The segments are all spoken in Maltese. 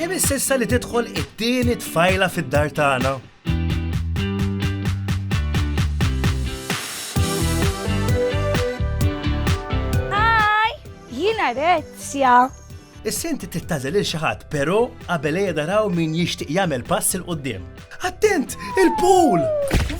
Imiss issa li tidħol it-tieni tfajla fid-dar tagħna. Hi! Jiena Rezzja. Is-senti tittażel il xi ħadd, però qabel ejja daraw min jixtieq jagħmel pass il qudiem Attent, il-pool!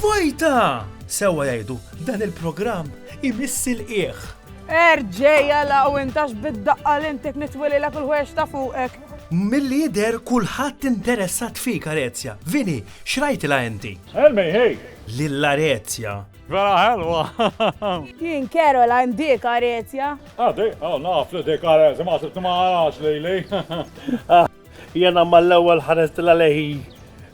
Vojta! Sewwa jgħidu, dan il-programm imiss il-qieħ. Erġeja law intax bid-daqqa li intik nitwililek il-ħwejjeġ ta' fuqek. Milli jidher kulħadd interessat fik Arezja. Vini, x'rajtilha inti? Helmi, hey! Lil Arezja. Vera ħelwa! Jien Caroline dik Arezja. Ah dik, oh naf li dik Arezja, ma sibtu ma arax lili. Jiena mal-ewwel ħaristilha lejhi